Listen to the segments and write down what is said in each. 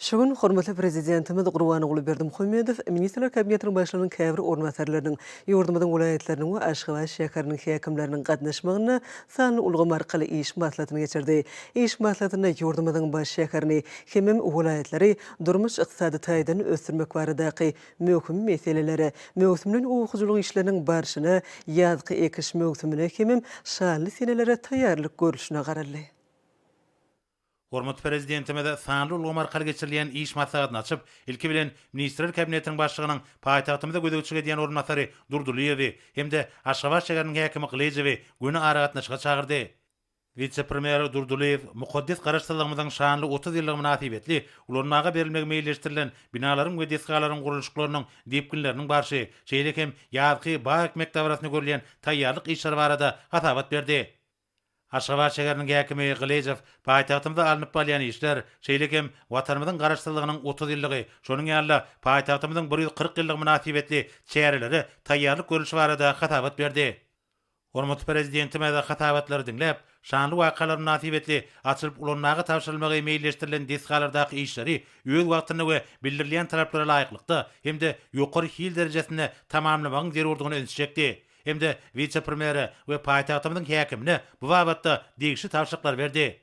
Şu gün hormatly Prezidentimiz Gurbanguly Berdimuhamedow Ministrler Kabinetiniň Başlygynyň käbir orunbasarlarynyň, ýurdumyzyň welaýatlarynyň we Aşgabat şäheriniň häkimleriniň gatnaşmagynda sanly ulgam arkaly iş maslahatyny geçirdi. Iş maslahatynda ýurdumyzyň baş şäherini hemem welaýatlary durmuş-ykdysady taýdan ösdürmek baradaky möhüm meselelere, möwsümleýin oba hojalyk işleriniň barşyna, ýazky ekiş möwsümine hemem şanly senelere taýýarlyk görlüşine garaldy. Hormatly Prezidentimiz sanly ulgam arkaly geçirilýän iş maslahatyny açyp, ilki bilen, Ministrler Kabinetiniň Başlygynyň paýtagtymyza gözegçilik edýän orunbasary Durdylyýewi hem-de Aşgabat şäheriniň häkimi Gylyjowy göni aragatnaşyga çagyrdy. Wise-premýer Durdylyýew mukaddes Garaşsyzlygymyzyň şanly otuz ýyllygy mynasybetli ulanmaga berilmegi meýilleşdirilen binalaryň we desgalaryň gurluşyklarynyň depginleriniň barşy, şeýle hem ýazky bag ekmek dabarasynda görülýän taýýarlyk işleri barada hasabat berdi. Aşgabat şäheriniň häkimi Gylyjow paýtagtymyzda alnyp balýan işler, şeýle hem Watanymyzyň Garaşsyzlygynyň otuz ýyllygy, şonuň ýaly-da paýtagtymyzyň bir ýüz kyrk ýyllygy mynasybetli çärelere taýýarlyk görlüşi barada hasabat berdi. Hormatly Prezidentimiz hasabatlary diňläp, şanly wakalar mynasybetli açylyp ulanmaga tabşyrylmagy meýilleşdirilen desgalardaky işleri öz wagtynda we bildirilýän talaplara laýyklykda hem-de ýokary hil derejesinde tamamlamagyň zerurdygyna ünsi çekdi. hem-de wise-premýere we paýtagtymyzyň häkimine bu babatda degişli tabşyryklary berdi.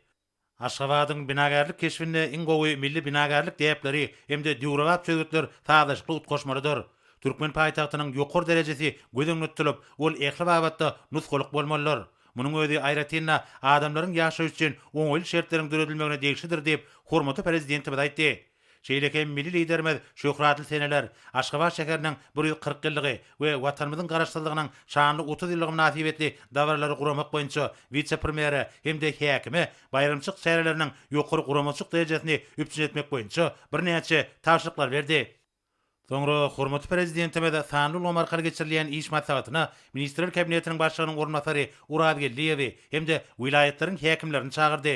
Aşgabadyň binagärlik keşbinde iň gowy milli binagärlik däpleri hem-de döwrebap çözgütler sazlaşykly utgaşmalydyr. Türkmen paýtagtynyň ýokary derejesi göz öňünde tutulyp, ol ähli babatda nusgalyk bolmalydyr. Munuň özi aýratyn-da adamlaryň ýaşaýşy üçin oňaýly şertleriň döredilmegine degişlidir diýip, hormatly Prezidentimiz aýtdy. Şeýle hem milli Liderimiz şöhratly seneler, Aşgabat şäheriniň bir ýüz kyrk ýyllygy we Watanymyzyň Garaşsyzlygynyň şanly otuz ýyllygy mynasybetli dabaralary guramak boýunça wise-premýere hem-de häkime baýramçylyk çäreleriniň ýokary guramaçylyk derejesini üpjün etmek boýunça birnäçe tabşyryklary berdi. Soňra hormatly Prezidentimiz sanly ulgam arkaly geçirilýän iş maslahatyna Ministrler Kabinetiniň Başlygynyň orunbasary Orazgeldiýewi hem-de welaýatlaryň häkimlerini çagyrdy.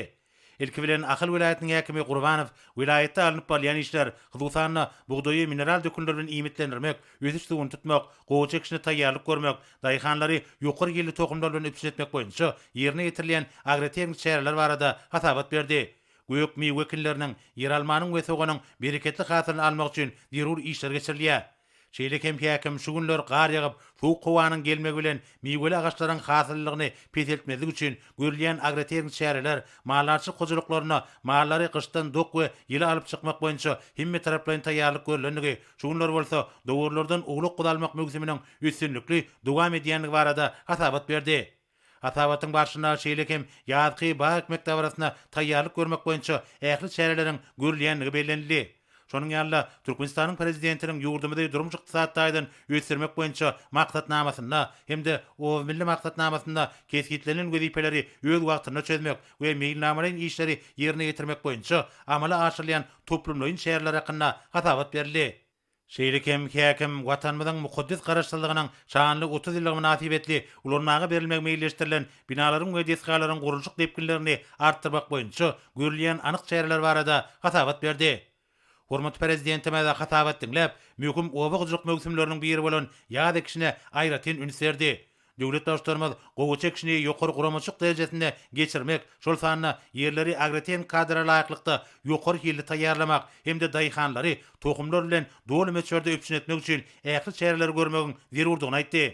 Ilki bilen, Ahal welaýatynyň häkimi Gurbanow welaýatda alnyp barylýan işler, hususan-da, bugdaýy mineral dökünler bilen iýmitlendirmek, ösüş suwuny tutmak, gowaça ekişine taýýarlyk görmek, daýhanlary ýokary hilli tohumlar bilen üpjün etmek boýunça ýerine ýetirilýän agrotehniki çäreler barada hasabat berdi. Gök miwe ekinleriniň, ýeralmanyň we soganyň bereketli hasylyny almak üçin zerur işler geçirilýär. Şeýle hem häkim şu günler gar ýagyp, sowuk howanyň gelmegi bilen miweli agaçlaryň hasyllylygyny peseltmezlik üçin görülýän agrotehniki çäreler, maldarçylyk hojalyklarynda mallary gyşdan dok we ýyly alyp çykmak boýunça hemmetaraplaýyn taýýarlyk görlendigi, şu günler bolsa dowarlardan owlak-guzalmak möwsüminiň üstünlikli dowam edýändigi barada hasabat berdi. Hasabatyň barşynda şeýle hem ýazky bag ekmek dabarasyna taýýarlyk görmek boýunça ähli çäreleriň görülýändigi bellenildi. Şonuň ýaly-da, Türkmenistanyň Prezidentiniň ýurdumyzy durmuş-ykdysady taýdan ösdürmek boýunça Maksatnamasynda hem-de Obamilli maksatnamasynda kesgitlenilen wezipeleri öz wagtynda çözmek we meýilnamalaýyn işleri ýerine ýetirmek boýunça amala aşyrylýan toplumlaýyn çäreler hakynda hasabat berildi. Şeýle hem häkim Watanymyzyň mukaddes Garaşsyzlygynyň şanly otuz ýyllygy mynasybetli ulanmaga berilmegi meýilleşdirilen binalaryň we desgalaryň gurluşyk depginlerini artdyrmak boýunça görülýän anyk çäreler barada hasabat berdi. Hormatly Prezidentimiz hasabat diňläp, möhüm oba hojalyk möwsümleriniň biri bolan ýaz ekişine aýratyn üns berdi. Döwlet Baştutanymyz gowy çekişmegi ýokary guramaçylyk derejesinde geçirmek, şol sanda ýerleri agrotehnika kadra laýyklykda ýokary hilli taýýarlamak hem-de daýhanlary tohumlar bilen doly möçberde üpjün etmek üçin ähli çäreleri görmegiň zerurdygyny aýtdy.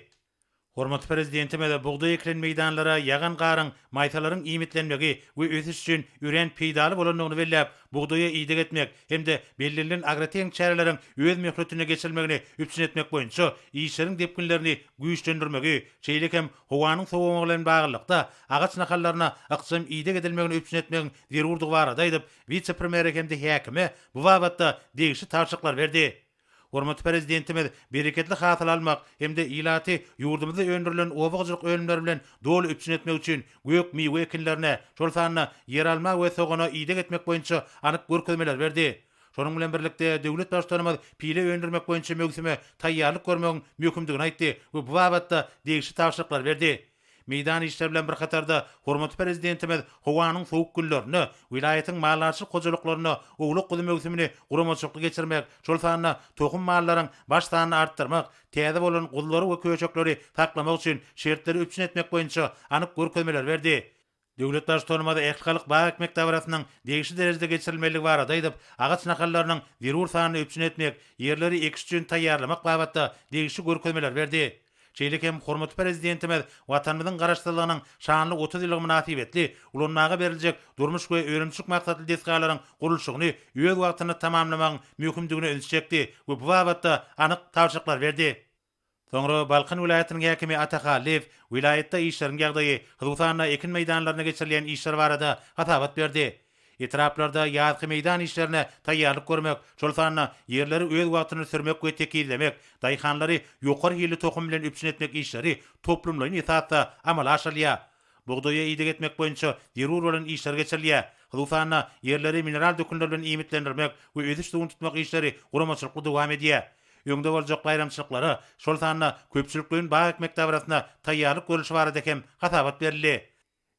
Hormatly Prezidentimiz bugdaý ekilen meýdanlara ýagan garyň maýsalaryň iýmitlenmegi we ösüş üçin örän peýdaly bolandygyny belläp, bugdaýa ideg etmek hem-de bellenilen agrotehniki çäreleriň öz möhletinde geçirilmegini üpjün etmek boýunça işleriň depginlerini güýçlendirmegi, şeýle hem howanyň sowamagy bilen baglylykda, agaç nahallaryna ykjam ideg edilmegini üpjün etmegiň zerurdygy barada aýdyp, wise-premýere hem-de häkime bu babatda degişli tabşyryklar berdi. Hormatly Prezidentimiz bereketli hasyl almak hem-de ilaty ýurdumyzda öndürilen oba hojalyk önümleri bilen doly üpjün etmek üçin gök miwe ekinlerine, şol sanda ýeralma we sogana ideg etmek boýunça anyk görkezmeler berdi. Şonuň bilen birlikde, döwlet Baştutanymyz pile öndürmek boýunça möwsüme taýýarlyk görmegiň möhümdigini aýtdy we bu babatda degişli tabşyryklary berdi. Meýdan işleri bilen bir hatarda, hormatly Prezidentimiz howanyň sowuk günlerinde welaýatyň maldarçylyk hojalyklarynda owlak-guzy möwsümini guramaçylykly geçirmek, şol sanda tohum mallaryň baş sanyny artdyrmak, täze bolan guzulary we köşekleri saklamak üçin şertleri üpjün etmek boýunça anyk görkezmeleri berdi. Döwlet Baştutanymyz Ähtgalyk bag ekmek dabarasynyň degişli derejede geçirilmelidigi barada aýdyp, agaç nahallarynyň zerur sanyny üpjün etmek, ýerleri ekiş üçin taýýarlamak babatda degişli görkezmeleri berdi. Şeýle hem hormatly Prezidentimiz Watanymyzyň Garaşsyzlygynyň şanly otuz ýyllygy mynasybetli ulanmaga beriljek durmuş we önümçilik maksatly desgalaryň gurluşygyny öz wagtynda tamamlamagyň möhümdigine ünsi çekdi we bu babatda anyk tabşyryklar berdi. Soňra Balkan welaýatynyň häkimi Ata Hallyýew welaýatda işleriň ýagdaýy, hususan-da ekin meýdanlarynda geçirilýän işler barada hasabat berdi. Etraplarda ýazky meýdan işlerine taýýarlyk görmek, şol sanda ýerleri öz wagtyny sürmek we tekizlemek, daýhanlary ýokary hilli tohum bilen üpjün etmek işleri toplumlaýyn esasda amala aşyrylýar. Bugdaýa ideg etmek boýunça zerur bolan işler geçirilýär. Hususan-da, ýerleri mineral dökünler bilen iýmitlendirmek we ösüş suwuny tutmak işleri guramaçylykly dowam edýär. Öňde boljak baýramçylyklara, şol sanda köpçülikleýin bag ekmek dabarasyna taýýarlyk görlüşi barada hem hasabat berildi.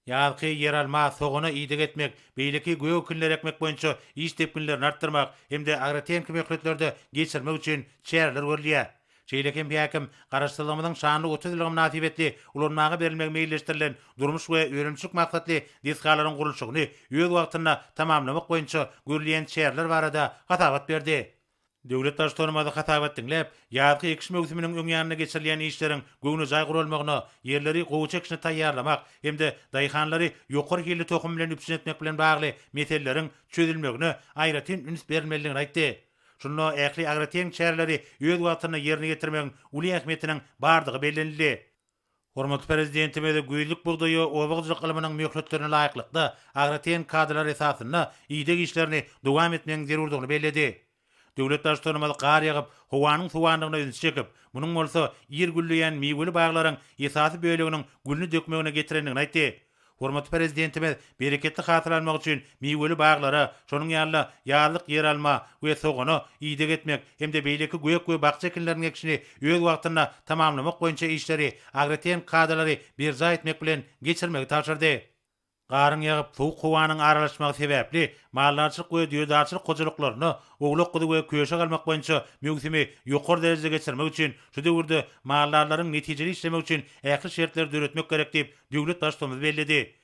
Ýazky ýeralma, sogana ideg etmek, beýleki gök ekinleri ekmek boýunça iş depginlerini artdyrmak hem-de agrotehniki möhletlerde geçirmek üçin çäreler görülýär. Şeýle hem häkim Garaşsyzlygymyzyň şanly otuz ýyllygy mynasybetli ulanmaga berilmegi meýilleşdirilen durmuş we önümçilik maksatly desgalaryň gurluşygyny öz wagtynda tamamlamak boýunça görülýän çäreler barada hasabat berdi. Döwlet Baştutanymyz hasabat diňläp, ýazky ekiş möwsüminiň öň ýanynda geçirilýän işleriň göwnejaý guralmagyna, ýerleri gowy çekişine taýýarlamak hem-de daýhanlary ýokary hilli tohum bilen üpjün etmek bilen bagly meseleleriň çözülmegine aýratyn üns berilmelidigini aýtdy. Şunda ähli agrotehniki çäreleri öz wagtynda ýerine ýetirmegiň uly ähmiýetiniň bardygy bellenildi. Hormatly Prezidentimiz güýzlük bugdaýy oba hojalyk ylmynyň möhletlerine laýyklykda, agrotehniki kadalar esasynda ideg işlerini dowam etmegiň zerurdygyny belledi. Döwlet Baştutanymyz gar ýagyp, howanyň sowandygyna ünsi çekip, munuň bolsa ir gülleýän miweli baglaryň esasy böleginiň gülüni dökmegine getirendigini aýtdy. Hormatly Prezidentimiz bereketli hasyl almak üçin miweli baglara, şonuň ýaly-da ýazlyk ýeralma we sogana ideg etmek hem-de beýleki gök we bakja ekinleriniň ekişini öz wagtynda tamamlamak boýunça işleri, agrotehniki kadalary berjaý etmek bilen geçirmegi tabşyrdy. Garyň ýagyp, sowuk howanyň aralaşmagy sebäpli maldarçylyk we düýedarçylyk hojalyklarynda owlak-guzy we köşek almak boýunça möwsümi ýokary derejede geçirmek üçin şu döwürde maldarlaryň netijeli işlemegi üçin ähli şertleri döretmek gerek diýip, döwlet Baştutanymyz belledi.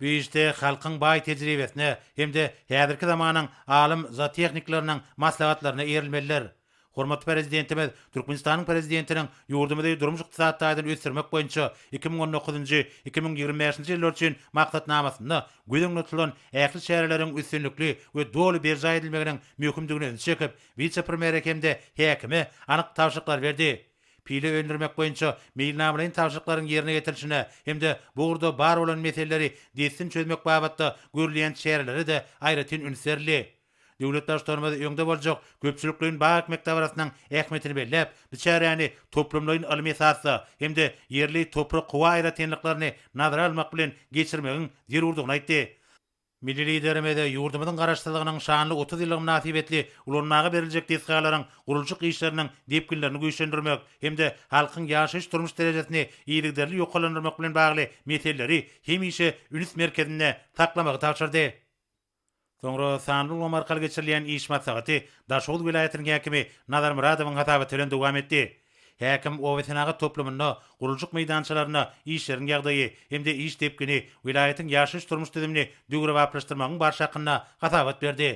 Bu işde halkyň baý tejribesine hem-de häzirki zamanyň alym zootehnikleriniň maslahatlaryna eýerilmelidir. Hormatly Prezidentimiz Türkmenistanyň Prezidentiniň ýurdumyzy durmuş-ykdysady taýdan ösdürmek boýunça iki müň on dokuzynjy-iki müň ýigrimi bäşinji ýyllar üçin Maksatnamasynda göz öňünde tutulan ähli çäreleriň üstünlikli we doly berjaý edilmeginiň möhümdigine ünsi çekip, wise-premere hem-de häkime anyk tabşyryklary berdi. Pile öndürmek boýunça meýilnamalaýyn tabşyryklaryň ýerine ýetirilişine hem-de bu ugurda bar bolan meseleleri dessin çözmek babatda görülýän çärelere-de aýratyn üns berildi. Döwlet Baştutanymyz öňde boljak köpçülikleýin bag ekmek dabarasynyň ähmiýetini belläp, bu çäräni toplumlaýyn ylmy esasda hem-de ýerli toprak-howa aýratynlyklaryny nazara almak bilen geçirmegiň zerurdygyny aýtdy. Milli Liderimiz ýurdumyzyň Garaşsyzlygynyň şanly otuz ýyllygy mynasybetli ulanmaga beriljek desgalaryň gurluşyk işleriniň depginlerini güýçlendirmek hem-de halkyň ýaşaýyş-durmuş derejesini yzygiderli ýokarlandyrmak bilen bagly meseleleri hemişe üns merkezinde saklamagy tabşyrdy. Soňra sanly ulgam arkaly geçirilýän iş maslahaty Daşoguz welaýatynyň häkimi Nazar Myradowyň hasabaty bilen dowam etdi. Häkim obasenagat toplumynda gurluşyk meýdançalarynda işleriň ýagdaýy hem-de iş depgini, welaýatyň ýaşaýyş-durmuş düzümini döwrebaplaşdyrmagyň barşy hakynda hasabat berdi.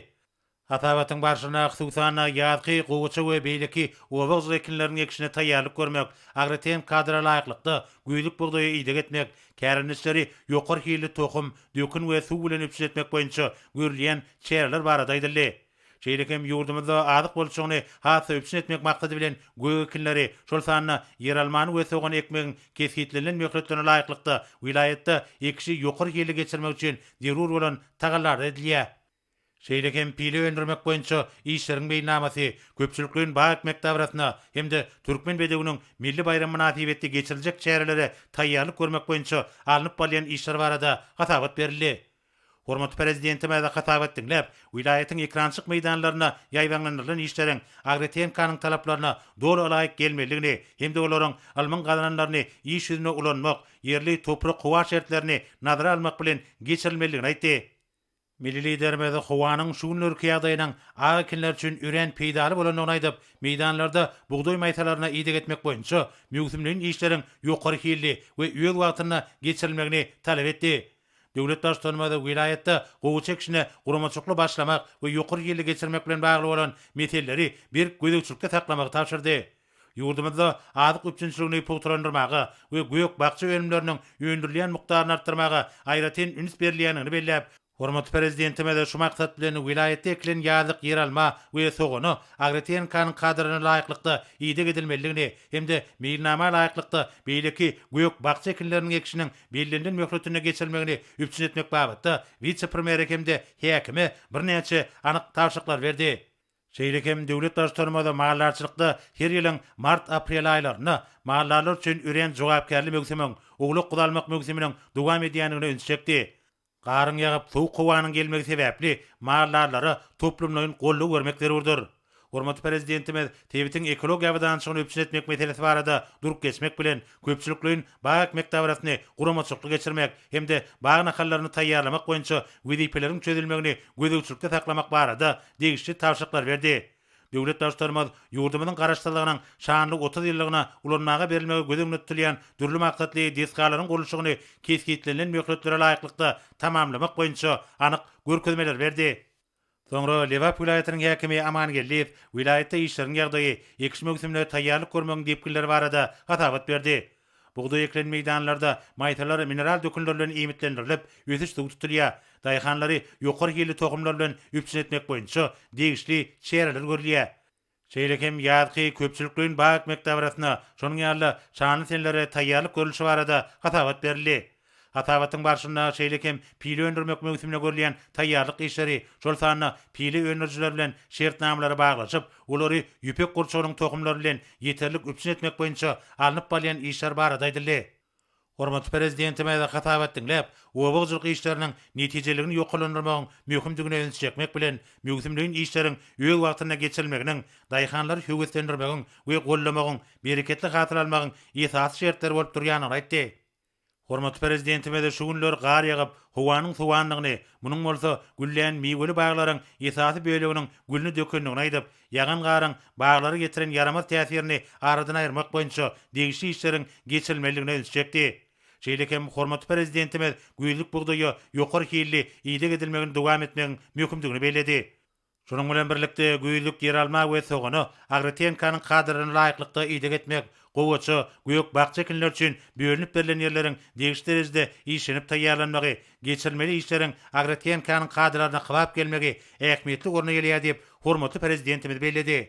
Hasabatyň barşynda, hususan-da, ýazky gowaça we beýleki oba gyşy ekinleriniň ekişine taýýarlyk görmek, agrotehniki kadra laýyklykda güýzlük bugdaýa ideg etmek, kärendeçileri ýokary hilli tohum, dökün we suw bilen üpjün etmek boýunça görülýän çäreler barada aýdyldy. Şeýle hem ýurdumyzda azyk bolçulygyny has-da üpjün etmek maksady bilen, gök ekinleri, şol sanda ýeralmany we sogany ekmegiň kesgitlenilen möhletlerine laýyklykda, welaýatda ekişi ýokary hilli geçirmek üçin zerur bolan tagallalar edilýär. Şeýle hem pile öndürmek boýunça işleriň meýilnamasy, köpçülikleýin bag ekmek dabrasyna hem-de Türkmen bedewiniň milli baýramy mynasybetli geçiriljek çärelere taýýarlyk görmek boýunça alnyp barylýan işler barada hasabat berildi. Hormatly Prezidentimize hasabat diňläp, welaýatyň ekrançyk meýdanlarynda ýaýbaňlandyrylan işleriň agrotehnikaň talaplaryna doly ylaýyk gelmelidigini hem-de olaryň ylmyň gazananlaryny iş ýüzünde ulanmak, ýerli toprak-howa şertlerini nazara almak bilen geçirilmelidigini aýtdy. Milli Liderimiz howanyň şu günlerki ýagdaýynyň ak ekinler üçin örän peýdaly bolandygyny aýdyp, meýdanlarda bugdaý maýsalaryna ideg etmek boýunça möwsümleýin işleriň ýokary hilli we öz wagtynda geçirilmegini talap etdi. Döwlet Baştutanymyz welaýatda gowy çekişine guramaçykly başlamak we ýokary hilli geçirmek bilen bagly bolan meseleleri berk gözegçilikde saklamagy tabşyrdy. Ýurdumyzda azyk üpjünçiligini pugtalandyrmaga we gök-bakja önümleriniň öndürilýän mukdaryny artdyrmaga aýratyn üns berilýändigini belläp, hormatly Prezidentimiz şu maksat bilen welaýatda ekilen ýazlyk ýeralma we sogana AgroTNK-nyň kadalaryna laýyklykda ideg edilmelidigini hem-de meýilnama laýyklykda beýleki gök-bakja ekinleriniň ekişiniň bellenilen möhletinde geçirilmegini üpjün etmek babatda wise-premýere hem-de häkime birnäçe anyk tabşyryklary berdi. Şeýle hem döwlet Baştutanymyz maldarçylykda her ýylyň mart-aprel aýlarynda maldarlar üçin örän jogapkärli möwsümiň, owlak-guzalmak möwsüminiň dowam edýändigine ünsi çekdi. Garyň ýagyp, sowuk howanyň gelmegi sebäpli mal-darlara toplumlaýyn goldaw bermek zerurdyr. Hormatly Prezidentimiz sebitiň ekologiýa abadançylygyny üpjün etmek meselesi barada durup geçmek bilen, köpçülikleýin bag ekmek dabarasyny guramaçylykly geçirmek hem-de bag nahallaryny taýýarlamak boýunça wezipeleriň çözülmegini gözegçilikde saklamak barada degişli tabşyryklary berdi. Döwlet Baştutanymyz ýurdumyzyň Garaşsyzlygynyň şanly otuz ýyllygyna ulanmaga berilmegi göz öňünde tutulýan dürli maksatly desgalaryň gurluşygyny kesgitlenilen möhletlere laýyklykda tamamlamak boýunça anyk görkezmeleri berdi. Soňra Lebap welaýatynyň häkimi Amangeldiýew welaýatda işleriň ýagdaýy, ekiş möwsümine taýýarlyk görmegiň depginleri barada hasabat berdi. Bugdaý ekilen meýdanlarda maýsalar mineral dökünler bilen iýmitlendirilip, ösüş suwy tutulýar. Daýhanlary ýokary hilli tohumlar bilen üpjün etmek boýunça degişli çäreler görülýär. Şeýle hem ýazky köpçülikleýin bag ekmek dabarasyna, şonuň ýaly-da şanly senelere taýýarlyk görlüşi barada hasabat berildi. Hasabatyň barşynda şeýle hem pile öndürmek möwsümine görülýän taýýarlyk işleri, şol sanda pile öndürijiler bilen şertnamalary baglaşyp, olary ýüpek gurçugynyň tohumlary bilen ýeterlik üpjün etmek boýunça alnyp barylýan işler barada aýdyldy. Hormatly Prezidentimiz hasabat diňläp, oba hojalyk işleriniň netijeliligini ýokarlandyrmagyň möhümdigine ünsi çekmek bilen, möwsümleýin işleriň öz wagtynda geçirilmeginiň daýhanlary höweslendirmegiň we goldamagyň, bereketli hasyl almagyň esasy şertleri bolup durýandygyny aýtdy. Hormatly Prezidentimiz şu günler gar ýagyp, howanyň sowandygyny, munuň bolsa güllän miweli baglaryň esasy böleginiň gülüni dökendigini aýdyp, ýagan garyň baglara ýetiren ýaramaz täsirini aradan aýyrmak boýunça degişli işleriň geçirilmelidigine ünsi çekdi. Şeýle hem hormatly Prezidentimiz güýzlük bugdaýa ýokary hilli ideg edilmegini dowam etmegiň möhümdigini belledi. Şunuň bilen birlikde, güýzlük ýeralma we sogana agrotehnikaň kadalaryna laýyklykda ideg etmek, gowaça, gök-bakja ekinleri üçin bölünip berlen ýerleriň degişli derejede işlenip taýýarlanmagy, geçirilmeli işleriň agrotehnikanyň kadalaryna kybap gelmegi ähmiýetli orna gelýär diýip, hormatly Prezidentimiz belledi.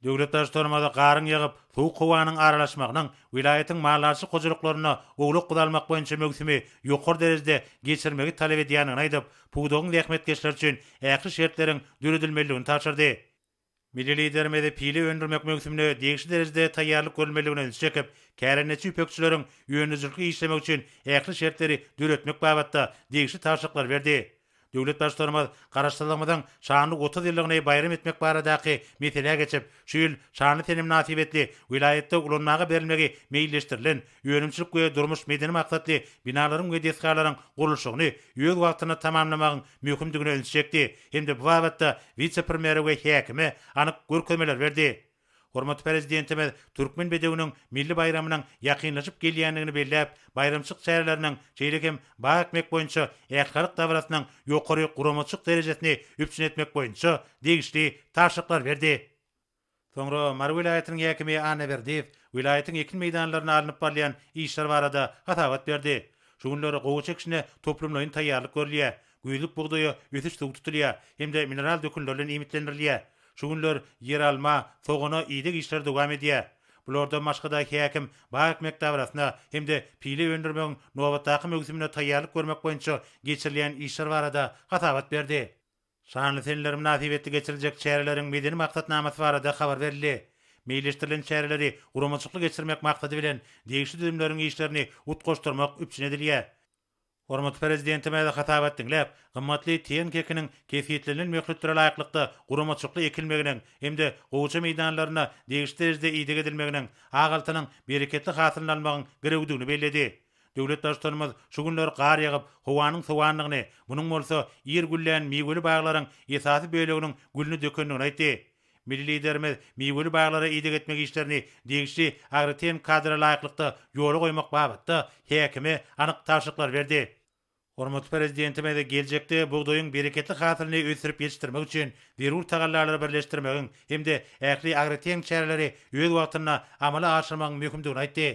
Döwlet Baştutanymyz garyň ýagyp, sowuk howanyň aralaşmagynyň welaýatyň maldarçylyk hojalyklarynda owlak guzalmak boýunça möwsümi ýokary derejede geçirmegi talap edýändigini aýdyp, pudagyň zähmetkeşleri üçin ähli şertleriň döredilmelidigini tabşyrdy. Milli Liderimiz pile öndürmek möwsümine degişli derejede taýýarlyk görülmelidigine ünsi çekip, kärendeçi ýüpekçileriň öndürijilikli işlemegi üçin ähli şertleri döretmek babatda degişli tabşyryklary berdi. Döwlet Baştutanymyz Garaşsyzlygymyzyň şanly otuz ýyllygyny baýram etmek baradaky meselä geçip, şu ýyl şanly sene mynasybetli welaýatda ulanmaga berilmegi meýilleşdirilen önümçilik we durmuş-medeni maksatly binalaryň we desgalaryň gurluşygyny öz wagtynda tamamlamagyň möhümdigine ünsi çekdi hem-de bu babatda wise-premýere we häkime anyk görkezmeler berdi. Hormatly Prezidentimiz Türkmen bedewiniň milli baýramynyň ýakynlaşyp gelýändigini belläp, baýramçylyk çäreleriniň, şeýle hem bag ekmek boýunça ählihalk dabarasynyň ýokary guramaçylyk derejesini üpjün etmek boýunça degişli tabşyryklary berdi. Soňra Mary welaýatynyň häkimi Annaberdiýew welaýatyň ekin meýdanlarynda alnyp barylýan işler barada hasabat berdi. Şu günler gowaça ekişine toplumlaýyn taýýarlyk görülýär. Güýzlük bugdaýa ösüş suw tutulýar hem-de mineral dökünlerden iýmitlendirilýär. Şu günler ýeralma, sogana ideg işleri dowam edýär. Bulardan başga-da häkim bag ekmek dabarasyna hem-de pile öndürmegiň nobatdaky möwsümine taýýarlyk görmek boýunça geçirilýän işler barada hasabat berdi. Şanly seneler mynasybetli geçiriljek çäreleriň medeni maksatnamasy barada habar berildi. Meýilleşdirilen çäreleri guramaçylykly geçirmek maksady bilen degişli düzümleriň işlerini utgaşdyrmak üpjün edilýär. Hormatly Prezidentimiz hasabat diňläp, gymmatly tiýen kekiniň kesgitlenilen möhletlere laýyklykda guramaçykly ekilmeginiň hem-de gowaça meýdanlarynda degişli derejede ideg edilmeginiň Agaltynyň bereketli hasylyny almagyň girewdigini belledi. Döwlet Baştutanymyz şu günler gar ýagyp, howanyň sowandygyny, munuň bolsa ir güllän miweli baglaryň esasy böleginiň gülüni dökendigini aýtdy. Milli Liderimiz miweli baglara ideg etmek işlerini degişli agrotehniki kadra laýyklykda ýola goýmak babatda häkime anyk tabşyryklar berdi. Hormatly Prezidentimiz geljekde bugdaýyň bereketli hasylyny ösdürip ýetişdirmek üçin zerur tagallalary birleşdirmegiň hem-de ähli agrotehniki çäreleri öz wagtynda amala aşyrmagyň möhümdigini aýtdy.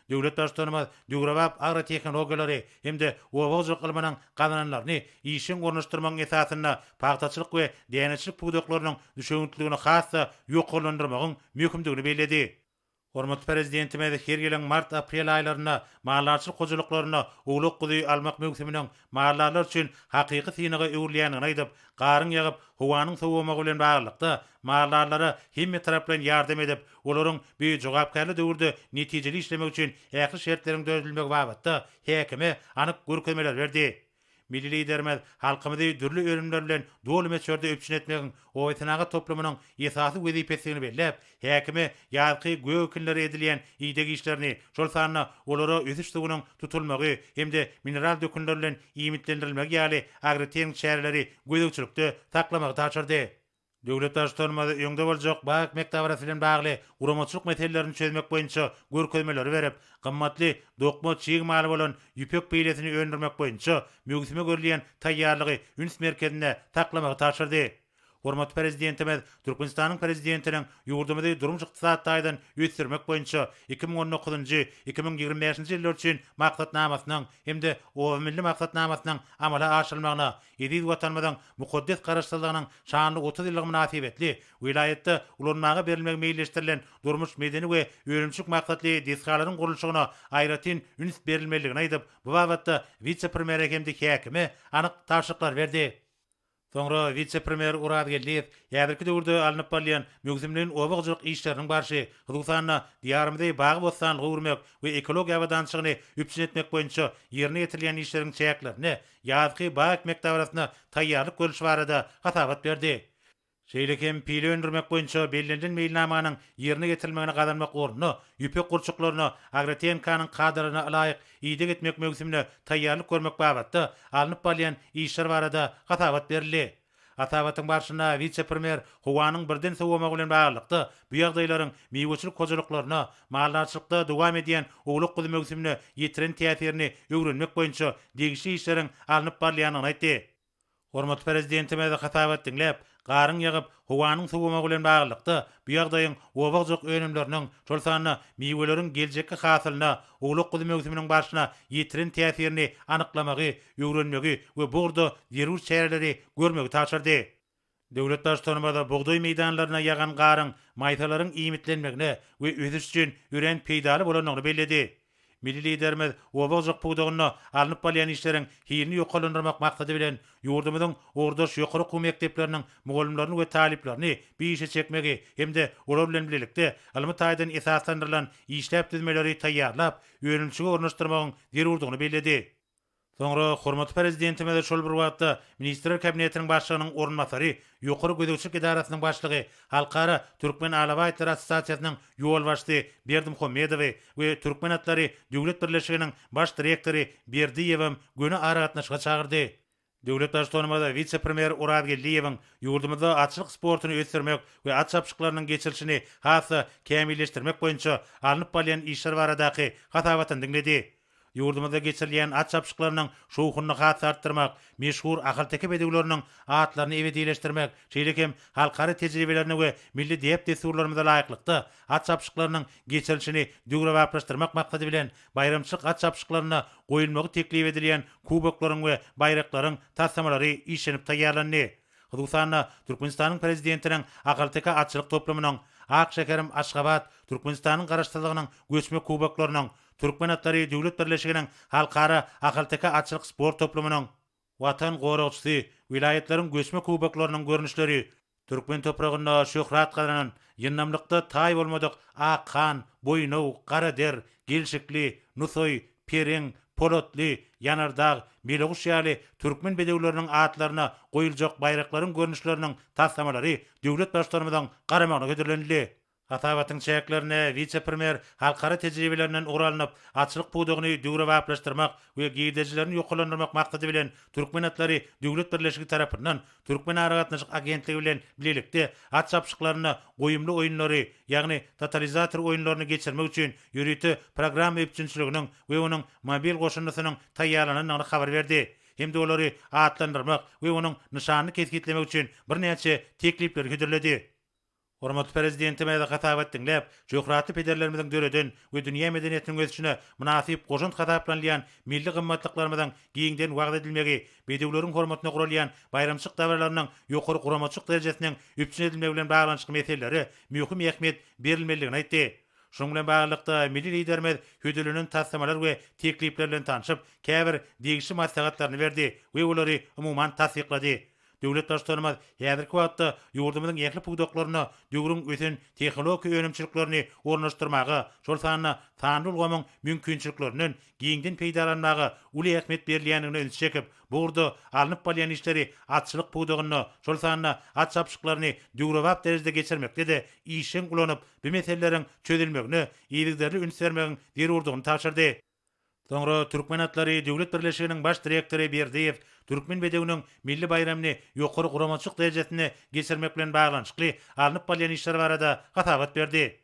Döwlet Baştutanymyz döwrebap agrotehnologiýalary hem-de oba hojalyk ylmynyň gazananlaryny işjeň ornaşdyrmagyň esasynda pagtaçylyk we däneçilik pudaklarynyň düşewüntliligini has-da ýokarlandyrmagyň möhümdigini belledi. Hormatly Prezidentimiz her ýylyň mart-aprel aýlarynda maldarçylyk hojalyklarynda owlak-guzy almak möwsüminiň maldarlar üçin hakyky synaga öwrülýändigini aýdyp, garyň ýagyp, howanyň sowamagy bilen baglylykda, maldarlara hemmetaraplaýyn ýardam edip, olaryň bu jogapkärli döwürde netijeli işlemegi üçin ähli şertleriň döredilmegi babatda häkime anyk görkezmeler berdi. Milli Liderimiz halkymyzy dürli önümler bilen doly möçberde üpjün etmegiň obasenagat toplumynyň esasy wezipesidigini belläp, Häkime ýazky göw-ekinlere edilýän ideg işlerini, şol sanda olara ösüş suwunyň tutulmagy hem-de mineral dökünler bilen iýmitlendirilmegi ýaly agrotehniki çäreleri gözegçilikde saklamagy tabşyrdy. Döwlet Baştutanymyz öňde boljak bag mekdabarasy bilen bagly guramaçylyk meselelerini çözmek boýunça görkezmeleri berip, gymmatly dokma çig maly bolan ýüpek beýlesini öndürmek boýunça möwsüme görülýän taýýarlygy üns merkezinde saklamagy tabşyrdy. Hormatly Prezidentimiz Türkmenistanyň Prezidentiniň ýurdumyzy durmuş-ykdysady taýdan ösdürmek boýunça iki müň on dokuz njy, iki müň ýigrimi bäş nji ýyllar üçin Maksatnamasynyň hem-de Obamilli maksatnamasynyň amala aşyrylmagyna, eziz Watanymyzyň mukaddes Garaşsyzlygynyň şanly otuz ýyllygy mynasybetli welaýatda ulanmaga berilmegi meýilleşdirilen durmuş-medeni we önümçilik maksatly desgalaryň gurluşygyna aýratyn üns berilmelidigini aýdyp, bu babatda wise-premýere hem-de häkime anyk tabşyryklar berdi. Soňra wise-premýer Orazgeldiýew häzirki döwürde alnyp barylýan möwsümleýin oba hojalyk işleriniň barşy, hususan-da, Diýarymyzy bagy-bossanlyga öwürmek we ekologiýa abadançylygyny üpjün etmek boýunça ýerine ýetirilýän işleriň çäklerinde ýazky bag ekmek dabarasyna taýýarlyk görlüşi barada hasabat berdi. Şeýle hem pile öndürmek boýunça bellenilen meýilnamanyň ýerine ýetirilmegini gazanmak ornuna, ýüpek gurçuklaryna Agrotehnka-nyň kadalaryna ylaýyk ideg etmek möwsümine taýýarlyk görmek babatda alnyp barylýan işler barada hasabat berildi. Hasabatyň barşynda wise-premýer howanyň birden sowamagy bilen baglylykda bu ýagdaýlaryň miweçilik hojalyklaryna, maldarçylykda dowam edýän owlak-guzy möwsümine ýetiren täsirini öwrenmek boýunça degişli işleriň alnyp barylýandygyny aýtdy. Hormatly Prezidentimiz hasabat diňläp, garyň ýagyp, howanyň sowamagy bilen baglylykda, bu ýagdaýyň oba-hojalyk önümleriniň, şol sanda miweleriň geljekki hasylyna, owlak-guzy möwsüminiň barşyna ýetiren täsirini anyklamagy, öwrenmegi we bu ugurda zerur çäreleri görmegi tabşyrdy. Döwlet Baştutanymyz bugdaý meýdanlaryna ýagan garyň maýsalaryň iýmitlenmegine we ösüş üçin örän peýdaly bolandygyny belledi. Milli Liderimiz oba ojagy pudagynda alnyp barylýan işleriň hilini ýokarlandyrmak maksady bilen, ýurdumyzyň ugurdaş ýokary okuw mekdepleriniň mugallymlaryny we talyplaryny bu işe çekmegi hem-de olar bilen bilelikde ylmy taýdan esaslandyrylan işläp düzmeleri taýýarlap, önümçige ornaşdyrmagyň zerurdygyny belledi. Soňra hormatly Prezidentimiz şol bir wagtda Ministrler Kabinetiniň Başlygynyň orunbasary, Ýokary gözegçilik edarasynyň başlygy, Halkara Türkmen alabaýtlary assosiasiýasynyň ýolbaşçysy Berdimuhammedowy we Türkmen atlary döwlet birleşiginiň Baş direktory Berdiýewem göni aragatnaşyga çagyrdy. Döwlet Baştutanymyz wise-premýer Oraz Geldiýewiň ýurdumyzda atçylyk sportuny ösdürmek we at çapyşyklarynyň geçirilişini has-da kämilleşdirmek boýunça alnyp barylýan işler baradaky hasabatyny diňledi. Ýurdumyzda geçirilýän at çapyşyklarynyň şowhunyny has-da artdyrmak, meşhur ahalteke bedewleriniň atlaryny ebedileşdirmek, şeýle hem halkara tejribelerine we milli däp-dessurlarymyza laýyklykda at çapyşyklarynyň geçirilişini döwrebaplaşdyrmak maksady bilen, Baýramçylyk hat çapyşyklarynda goýulmagy teklip edilýän kuboklaryň we baýraklaryň taslamalary işlenip taýýarlandy. Hususan-da, Türkmenistanyň Prezidentiniň Ahalteke atçylyk toplumynyň, Ak şäherim Aşgabat, Türkmenistanyň Garaşsyzlygynyň göçme kuboklarynyň, Türkmen atlary döwlet birleşiginiň Halkara ahalteke atçylyk sport toplumynyň, Watan goragçysy, welaýatlaryň göçme kuboklarynyň görnüşleri, türkmen topragynda şöhrat gazanan, ýyndamlykda taý bolmadyk Ak han, Boýnaw, Garader, Gelşikli, Nusaý, Pereň, Polatly, Ýanardag, Meleguş ýaly türkmen bedewleriniň atlaryna goýuljak baýraklaryň görnüşleriniň taslamalary döwlet Baştutanymyzyň garamagyna hödürlenildi. Hasabatyň çäklerinde wise-premýer halkara tejribelerinden ugur alnyp, açlyk pudagyny döwrebaplaşdyrmak we girdejilerini ýokarlandyrmak maksady bilen Türkmen atlary döwlet birleşigi tarapyndan Türkmenaragatnaşyk agentligi bilen bilelikde at çapyşyklarynda goýumly oýunlary, ýagny totalizator oýunlaryny geçirmek üçin ýörite programma üpjünçiliginiň we onuň mobil goşundysynyň taýýarlanandygyny habar berdi hem-de olary atlandyrmak we onuň nyşanyny kesgitlemek üçin birnäçe teklipleri hödürledi. Hormatly Prezidentimiz hasabat diňläp, şöhratly pederlerimiziň döreden we dünýä medeniýetiniň ösüşine mynasyp goşant hasaplanylýan milli gymmatlyklarymyzyň giňden wagyz edilmegi, bedewleriň hormatyna guralýan baýramçylyk dabaralarynyň ýokary guramaçylyk derejesiniň üpjün edilmegi bilen baglanyşykly meselelere möhüm ähmiýet berilmelidigini aýtdy. Şunuň bilen baglylykda, milli Liderimiz hödürlenen taslamalar we teklipler bilen tanşyp, käbir degişli maslahatlaryny berdi we olary, umuman, tassyklady. Döwlet Baştutanymyz häzirki wagtda ýurdumyzyň ähli pudaklarynda döwrüň ösen tehologiki önümçiliklerini ornaşdyrmaga, şol sanda sanly ulgamyň mümkinçiliklerinden giňden peýdalanmaga uly ähmiýet berilýändigine ünsi çekip, bu ugurda alnyp barylýan işleri atçylyk pudagynda, şol sanda at çapyşyklaryny döwrebap derejede geçirmekde-de işjeň ulanyp, bu meseleleriň çözülmegine yzygiderli üns bermegiň zerurdygyny tabşyrdy. Soňra Türkmen atlary döwlet birleşiginiň baş direktory Berdiýew Türkmen bedewiniň milli baýramyny ýokary guramaçylyk derejesinde geçirmek bilen baglanyşykly alnyp barylýan işler barada hasabat berdi.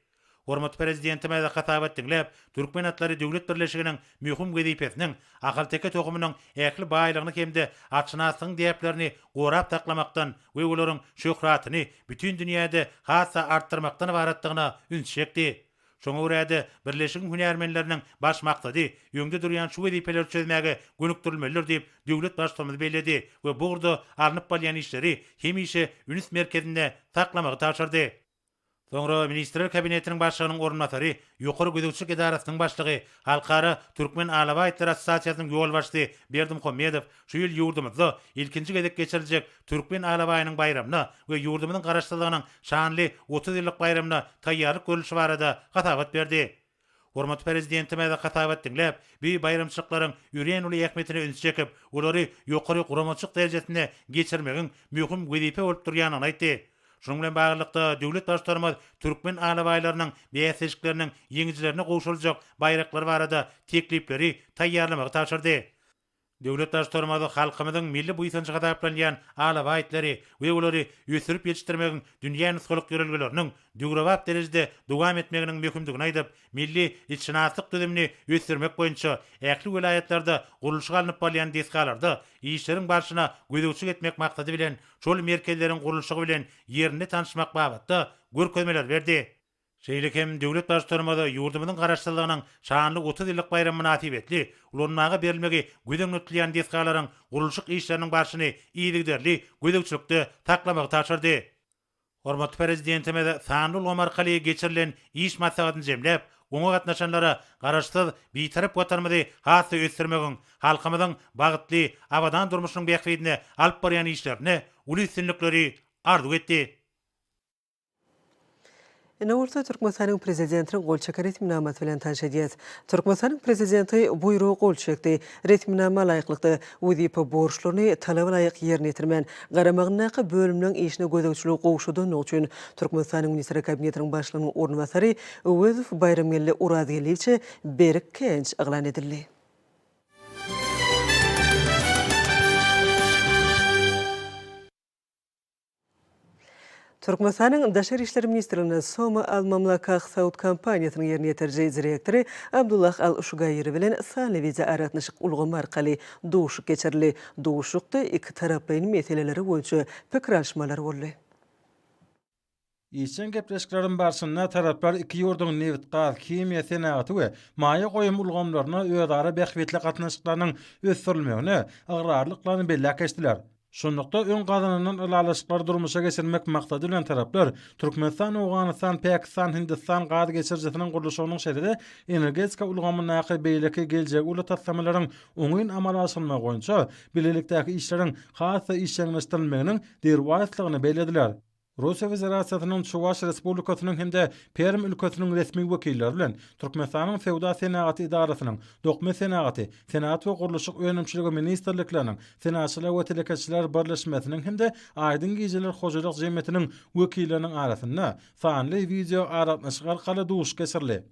Hormatly Prezidentimiz hasabat diňläp, Türkmen atlary döwlet birleşiginiň möhüm wezipesiniň ahalteke tohumynyň ähli baýlygyny hem-de atşynaslygyň däplerini gorap saklamakdan we olaryň şöhratyny bütin dünýäde has-da artdyrmakdan ybaratdygyna üns çekdi. Şoňa görä-de, birleşigiň hünärmenleriniň baş maksady öňde durýan şu wezipeleri çözmäge gönükdirilmelidir diýip, döwlet Baştutanymyz belledi we bu ugurda alnyp barylýan işleri hemişe üns merkezinde saklamagy tabşyrdy. Soňra Ministrler Kabinetiniň Başlygynyň orunbasary, Ýokary gözegçilik edarasynyň başlygy, Halkara Türkmen alabaýtlar assosiasiýasynyň ýolbaşçysy Berdimuhammedow, Şu ýyl ýurdumyzda ilkinji gezek geçiriljek Türkmen alabaýynyň baýramyna we ýurdumyzyň Garaşsyzlygynyň şanly otuz ýyllyk baýramyna taýýarlyk görlüşi barada hasabat berdi. Hormatly Prezidentimiz hasabat diňläp, bu baýramçylyklaryň örän uly ähmiýetine üns çekip, olary ýokary guramaçylyk derejesinde geçirmegiň möhüm wezipe bolup durýandygyny aýtdy. Şunuň bilen baglylykda, döwlet Baştutanymyz türkmen alabaýlarynyň bäsleşikleriniň ýeňijilerine gowşuryljak baýraklary barada teklipleri taýýarlamagy tabşyrdy. Döwlet Baştutanymyz halkymyzyň milli buýsanjy hasaplanýan alabaýtlary we olary ösdürip ýetişdirmegiň dünýä nusgalyk ýörelgeleriniň döwrebap derejede dowam etmeginiň möhümdigini aýdyp, milli itşynaslyk düzümini ösdürmek boýunça ähli welaýatlarda gurluşyk alnyp barylýan desgalarda işleriň barşyna gözegçilik etmek maksady bilen şol merkezleriň gurluşygy bilen ýerinde tanyşmak babatda görkezmeler berdi. Şeýle hem döwlet Baştutanymyz ýurdumyzyň Garaşsyzlygynyň şanly otuz ýyllyk baýramy mynasybetli ulanmaga berilmegi göz öňünde tutulýan desgalaryň gurluşyk işleriniň barşyny yzygiderli gözegçilikde saklamagy tabşyrdy. Hormatly Prezidentimiz sanly ulgam arkaly geçirilen iş maslahatyny jemläp, oňa gatnaşanlara Garaşsyz, Bitarap Watanymyzy has-da ösdürmegiň, halkymyzyň bagtly, abadan durmuşynyň bähbidine alyp barýan işlerinde uly üstünlikleri arzuw etdi. Indi bolsa Türkmenistanyň Prezidentiniň gol çeken resminamasy bilen tanyş edýäs. Türkmenistanyň Prezidenti buýruga gol çekdi. Resminama laýyklykda, wezipe borçlaryny talaba laýyk ýerine ýetirmän, garamagyndaky bölümleriň işine gözegçiligi gowşadandygy üçin, Türkmenistanyň Ministrler Kabinetiniň Başlygynyň orunbasary Öwezow Baýramgeldi Orazgeldiýewiçe Berik Kenç yglan edildi. Türkmenistanyň Daşary işler ministrliginde Soma Al Mamlakah Saud kompaniýasynyň ýerine ýetiriji direktory Abdullah Al Şugaýri bilen sanly wideoaragatnaşyk ulgamy arkaly duşuşyk geçirildi. Duşuşykda ikitaraplaýyn meseleleri boýunça pikir alyşmalar boldy. Işjeň gepleşikleriň barşynda taraplar iki ýurduň nebit-gaz, himiýa senagaty we maýa goýum ulgamlarynda özara bähbitli gatnaşyklarynyň ösdürilmegine ygrarlyklaryny belläp geçdiler. Şunlukda, öň gazanylan ylalaşyklary durmuşa geçirmek maksady bilen taraplar Türkmenistan, Owganystan, Pakistan, Hindistan gaz geçirijisiniň gurluşygynyň şeýle-de energetika ulgamyndaky beýleki geljegi uly taslamalaryň oňyn amala aşyrylmagy boýunça bilelikdäki işleriň has-da işjeňleşdirilmeginiň derwaýyslygyny bellediler. Russiýa Federasiýasynyň Çuwaş Respublikasynyň hem-de Perm ülkesiniň resmi wekilleri bilen Türkmenistanyň Söwda-senagat edarasynyň, Dokma senagaty, Senagat we gurluşyk önümçiligi ministrlikleriniň, Senaatçylar we telekeçiler birleşmesiniň hem-de Aýdyň gijeler hojalyk jemgyýetiniň wekilleriniň arasynda sanly wideoaragatnaşyk arkaly duşuşyk geçirildi.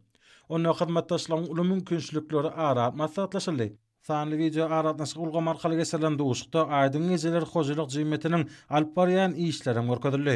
Onda hyzmatdaşlygyň uly mümkinçilikleri ara maslahatlaşyldy. Sanly wideo aragatnaşyk ulgamy arkaly geçirilen duşuşykda Aýdyň gijeler hojalyk jemgyýetiniň alyp barýan işleri hem görkezildi.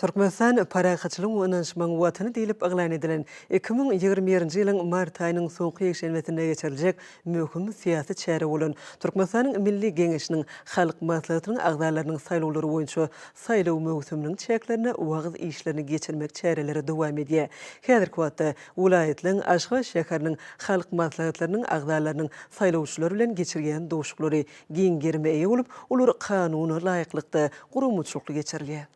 Türkmenistan Parahatçylygyň we ynanyşmagyň Watany diýlip yglan edilen iki müň ýigrimi birinji ýylyň mart aýynyň soňky ýekşenbesinde geçiriljek möhüm syýasy çäre bolan Türkmenistanyň Milli Geňeşiniň Halk Maslahatynyň agzalarynyň saýlawlary boýunça saýlaw möwsüminiň çäklerinde wagyz işlerini geçirmek çäreleri dowam edýär. Häzirki wagtda welaýatlaryň, Aşgabat şäheriniň halk maslahatlarynyň agzalarynyň saýlawçylar bilen geçirýän duşuklary giň gerime eýe bolup, olar kanuna laýyklykda, guramaçylykly geçirilýär.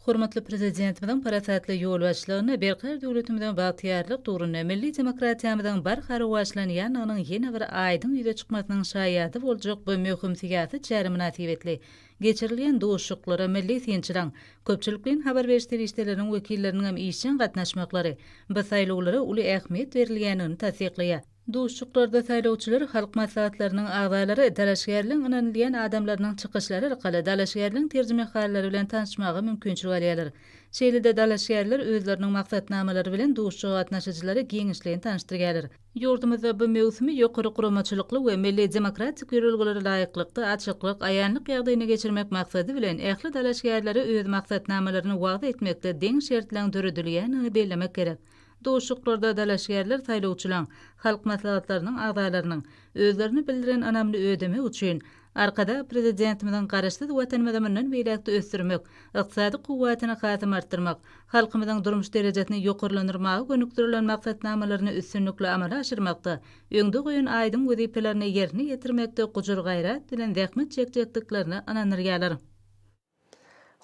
Hormatly Prezidentimiziň parasatly ýolbaşçylygynda berkarar döwletimiziň bagtyýarlyk döwründe milli demokratiýamyzyň barha rowaçlanýandygynyň ýene bir aýdyň ýüze çykmasynyň şaýady boljak bu möhüm syýasy çäre mynasybetli Geçirilýän duşuşyklara milli synçylaryň, köpçülikleýin habar beriş serişdeleriniň wekilleriniň hem işjeň gatnaşmaklary bu saýlawlara uly ähmiýet berilýändigini tassyklaýar. Duşuşyklarda saýlawçylar, halk maslahatlarynyň agzalary, dalaşgärligiň ynanylýan adamlarynyň çykyşlary arkaly dalaşgärligiň terjimehallary bilen tanyşmaga mümkinçilik alýarlar. Şeýle-de dalaşgärler özleriniň maksatnamalary bilen duşuşyga gatnaşyjylary giňişleýin tanyşdyrýarlar. Ýurdumyzda bu möwsümi ýokary guramaçylykly we milli demokratik ýörelgelere laýyklykda, açyklyk, aýanlyk ýagdaýynda geçirmek maksady bilen, ähli dalaşgärlere öz maksatnamalaryny wagyz etmekde deň şertleň döredilýändigini bellemek gerek. Duşuşyklarda dalaşgärler saýlawçylaryň, halk maslahatlarynyň agzalarynyň, özlerini bildiren ynamyny ödemek üçin, Arkadag Prezidentimiziň Garaşsyz Watanymyzy mundan beýläk-de ösdürmek, ykdysady kuwwatyny hasam artdyrmak, halkymyzyň durmuş derejesini ýokarlandyrmaga gönükdirilen maksatnamalaryny üstünlikli amala aşyrmakda öňde goýan aýdyň wezipelerini ýerine ýetirmekde gujur-gaýrat bilen zähmet çekjekdiklerine ynandyrýarlar.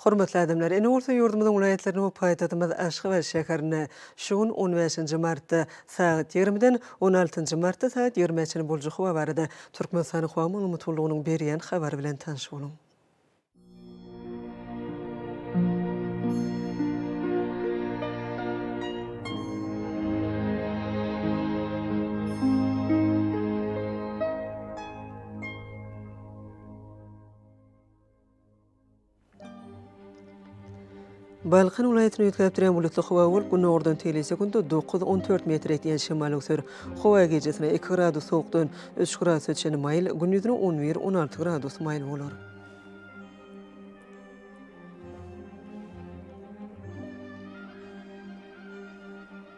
Hormatly adamlar, ine bolsa ýurdumyzyň welaýatlaryny we paýtagtymyz Aşgabat şäherinde şu gün on bäşinji martda sagat ýigrimiden on altynjy martda sagat ýigrimä çenli boljak howa barada Türkmenistanyň Howa maglumat gullugynyň berýän habary bilen tanyş boluň. Balkan welaýatyny üýtgäp durýan bulutly howa bolup, günordan teýli sekuntda dokuz, on dört metre ýetýän şemal öwser. Howa gijesine iki gradus sowukdan üç gradusa çenli maýyl, gündizine on bir, on alty gradus maýyl bolar.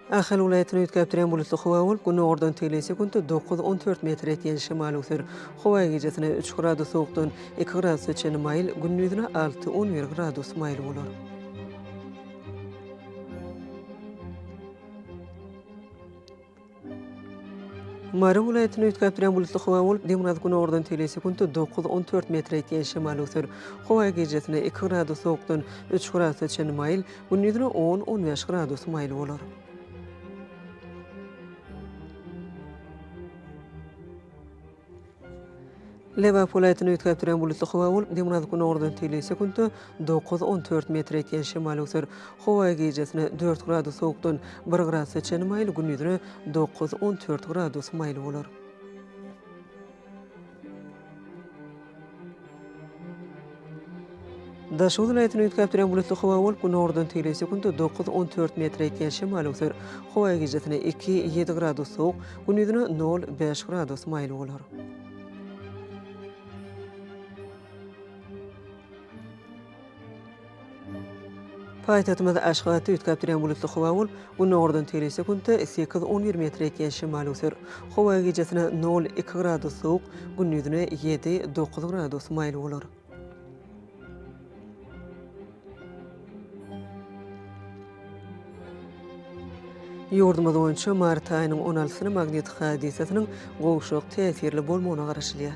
Ahal welaýatyny üýtgäpdirýän bulutly howa bolup, günordan tegelýän sekunta dokuz, on dört metr ýetýän şemal öwser. Howa gijesine üç gradus sowukdan iki gradusa çenli maýyl, gündizine alty, on bir gradus maýyl bolar. Mary welaýatyny üýtgäpdirýän bulutly howa bolup, demirgaz-günordan tegelýän sekunta dokuz, on dört metr ýetýän şemal öwser. Howa gijesine iki gradus sowukdan üç gradusa çenli maýyl, Gündizine on-on bäş gradus maýyl bolar. Lebap welaýatyny üýtgäp duran bulutly howa bolup, demirgazyk-gündogardan teýli sekuntda dokuz-on dört metr etýän şemal öwser. Howa gijesine dört gradus sowukdan bir gradusa çenli maýyl, gündizine dokuz-on dört gradus maýyl bolar. Daşoguz welaýatyny üýtgäp duran bulutly howa bolup, günordan tegelýän sekuntda dokuz, on dört metre ýetýän şemal öwser. Howa gijasine iki, ýedi gradus sowuk, gündizine nol, bäş gradus maýyl bolar. Paýtagtymyzda aşgabatda üýtgäp durýan bulutly howa bolup, günordan tegelýse günde sekiz, on bir metre ýetýän şemal öser. Howa gijesine nol, iki gradus sowuk, gündizine ýedi, dokuz gradus maýyl bolar. Ýurdumyz boýunça mart aýynyň on altysyna magnit hadysasynyň gowşak täsirli bolmagyna garaşylýar.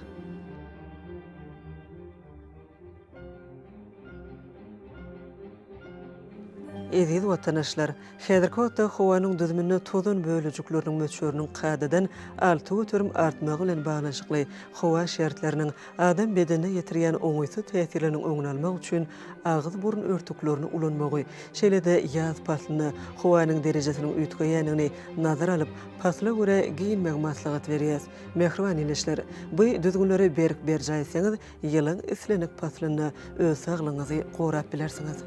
Eziz watanaşlar! Häzirki wagtda howanyň düzüminde tozan bölejikleriniň möçberiniň kadadan alty göterim artmagy bilen baglanyşykly howa şertleriniň adam bedenine ýetirýän oňaýsyz täsirleriniň öňüni almak üçin agyz-burun örtüklerini ulanmagy, şeýle-de ýaz paslynda howanyň derejesiniň üýtgeýändigini nazara alyp, pasla görä geýinmegi maslahat berýäs. Mähriban ildeşler! Bu düzgünleri berk berjaý etseňiz, Ýylyň islendik paslynda öz saglygyňyzy gorap bilersiňiz.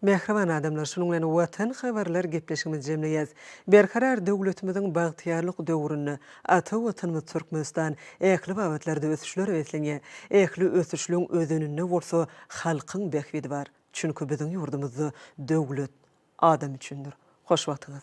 Mähriban adamlar, şunuň bilen Watan habarlar gepleşigimizi jemleýäs. Berkarar döwletimiziň bagtyýarlyk döwründe ata Watanymyz Türkmenistan ähli babatlarda ösüşlere beslenýär. Ähli ösüşligiň özeninde bolsa halkyň bähbidi bar. Çünki biziň ýurdumyzda döwlet, Adam üçindir. Hoş wagtyňyz.